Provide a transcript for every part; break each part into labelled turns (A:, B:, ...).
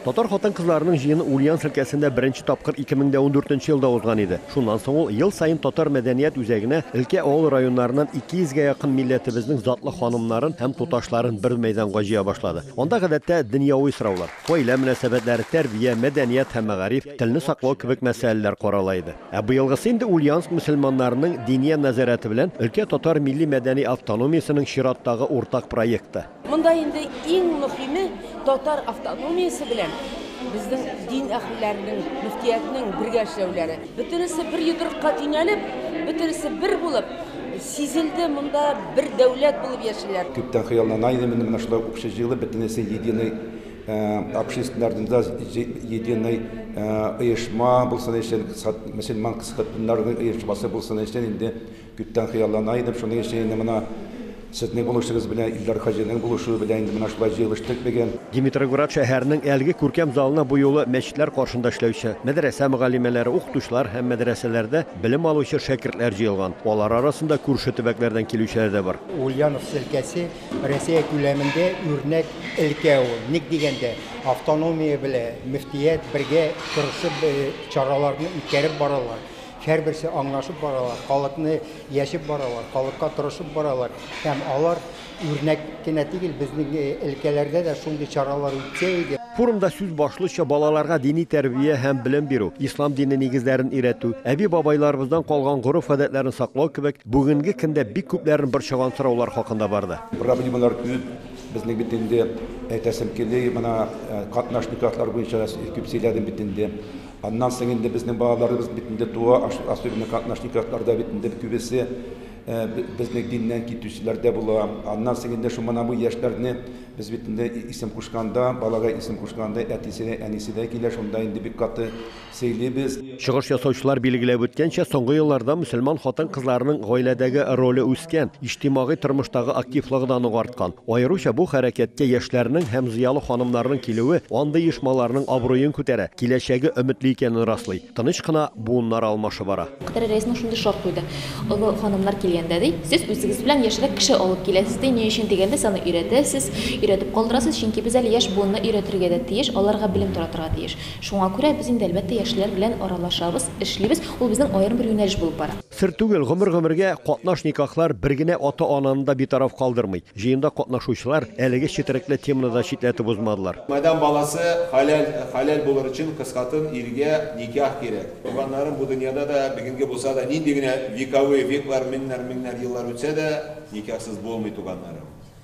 A: Татар хатын-кызларының җыены Ульяновск өлкәсендә беренче тапкыр 2014 нче елда узган иде. Шуннан соң ул ел саен татар мәдәният үзәгенә өлкә авыл районнарыннан 200 гә якын милләтебезнең затлы ханымнарын һәм туташларын бер мәйданга җыя башлады. Анда гадәттә дөньяви сораулар, гаилә мөнәсәбәтләре, тәрбия, мәдәният һәм мәгариф, телне саклау кебек мәсьәләләр карала иде. Ә быелгысы инде Ульяновск мөселманнарының Диния нәзарәте белән өлкә татар милли-мәдәни автономиясенең чираттагы уртак проекты. Монда инде
B: иң мөхиме татар автономиясе белән безнең дин әһелләренең, мөфтиятнең бергә эшләүләре. Бөтенесе бер йодрыкка төйнәлеп, бөтенесе бер булып, сизелде, монда бер дәүләт булып яшиләр. Күптән хыяллана идем
C: инде менә шулай укчы җыелып, бөтенесе единый общественный организация, единый оешма булсын өчен, мөселман кызларының оешмасы булсын өчен инде. Күптән хыяллана идем шуның өчен инде менә сезнең булышыгыз белән Илдар хаҗиның булышуы белән инде менә шулай җыелыштык бегэн. Димитроград шәһәренең
A: әлеге күркәм залына бу юлы мәчетләр каршында эшләүче, мәдрәсә мөгаллимәләре, укытучылар һәм мәдрәсәләрдә белем алучы шәкертләр җыелган. Алар арасында күрше төбәкләрдән килүчеләр дә бар. Ульяновск өлкәсе
D: Россия күләмендә үрнәк өлкә ул. Ник дигәндә, автономия белә мөфтият бергә тырышып чараларны үткәреп баралар. Һәрберсе аңлашып баралар, халыкны яшеп баралар, халыкка тырышып баралар. Һәм алар үрнәк кенә тигел, безнең элкәләрдә дә шундый чаралар үтсә иде. Форумда сүз башлыча
A: балаларга дини тәрбия һәм белем бирү, ислам дине нигезләрен өйрәтү, әби-бабайларыбыздан калган гореф-гадәтләрне саклау кебек бүгенге көндә бик күпләрен борчыган сораулар хакында барды. Проблемалар күп,
C: безнең бит инде әйтәсем кили, менә катнаш никахлар буенча да күп сөйләдем бит инде. Аннан соң инде безнең балаларыбыз бит инде туа, особенно катнашниковларда бит инде күбесе безнең диннән китүчеләр дә була. Аннан соң инде шул мына бу яшьләрне без бит инде исем кушканда, балага исем кушканда әтисе дә, әнисе дә килә, шунда инде бик каты сөйлибез. Чыгыш ясаучылар
A: билгеләп үткәнчә, соңгы елларда мөселман хатын-кызларының гаиләдәге роле үскән, иҗтимагый тормыштагы активлыгы да нык арткан. Аеруча бу хәрәкәткә яшьләрнең һәм зыялы ханымнарның килүе андый оешмаларның абруен күтәрә, киләчәге өметле икәнен раслый. Тыныч кына буыннар алмашы бара. Катар рәисенең шундый шарт
E: куйды, Олы ханымнар килгәндә, ди, сез үзегез белән яшьрәк кеше алып киләсез, ди, ни өчен дигәндә, сез аны өйрәтәсез, өйрәтеп калдырасыз, чөнки без әле яшь буынны өйрәтергә дә тиеш, аларга белем таратырга тиеш. Шуңа күрә без инде, әлбәттә, яшьләр белән аралашабыз, эшлибез, ул безнең аерым бер юнәлеш булып бара. Сер түгел, гомер-гомергә
A: катнаш никахлар бер генә ата-ананы да битараф калдырмый. Җыенда катнашучылар әлеге четерекле теманы да читләтеп узмадылар. Майдан баласы
F: хәләл хәләл булыр өчен кызкатын иргә никах кирәк. Туганнарым бу дөньяда да, бүгенге булса да, нинди генә вековые, веклар, меңнәр, меңнәр еллар үтсә дә, никахсыз булмый, туганнарым.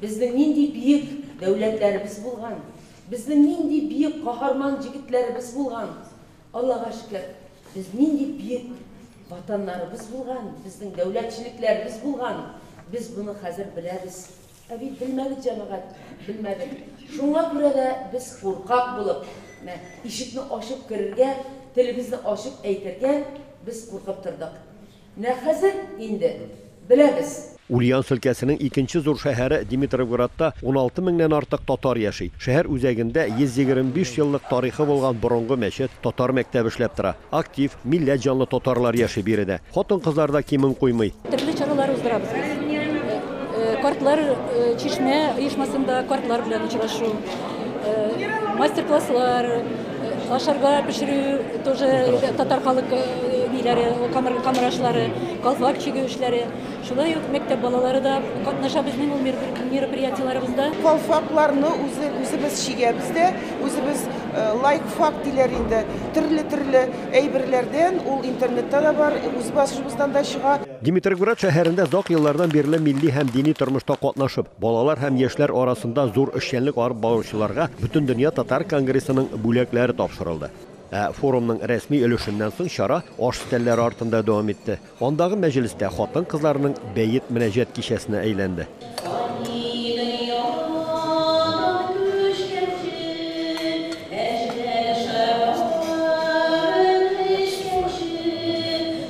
A: Безнең нинди биек
B: дәүләтләребез булган, безнең нинди биек каһарман җегетләребез булган, Аллага шөкер, без нинди биек Ватаннарыбыз булган, безнең дәүләтчелекләребез булган, без моны хәзер беләбез. Ә бит белмәдек, җәмәгать, белмәдек. Шуңа күрә дә без куркак булып, мә, ишекне ачып керергә, телебезне ачып әйтергә без куркып тордык. Нәкъ хәзер инде беләбез. Ульяновск өлкәсенең
A: икенче зур шәһәре Димитровградта уналты меңнән артык татар яши. Шәһәр үзәгендә 125 еллык тарихы булган борынгы мәчет, татар мәктәбе эшләп тора. Актив, милләт җанлы татарлар яши биредә. Хатын-кызлар да кимен куймый. Төрле чаралар уздырабыз
G: без. Картлар чишмә оешмасында картлар белән очрашу, мастер-класслар. Ашарга пешерү тоже татар халык ниләре, камыр, камырашлары, колфак чигү эшләре. Шулай ук мәктәп балалары да катнаша безнең ул мероприятиеләребездә. Колфакларны
H: үзе, үзебез чигәбез дә, үзебез лайк фак диләр инде. Төрле-төрле әйберләрдән ул интернетта да бар, үз басышыбыздан да чыга. Димитрогород шәһәрендә
A: озак еллардан бирле милли һәм дини тормышта катнашып, Балалар һәм яшьләр арасында зур эшчәнлек алып баручыларга Бөтендөнья татар конгрессының бүләкләре тапшырылды. Ә форумның рәсми өлешеннән соң чара аш өстәлләре артында дәвам итте. Андагы мәҗлес тә хатын-кызларның бәет-мөнәҗәт кичәсенә әйләнде.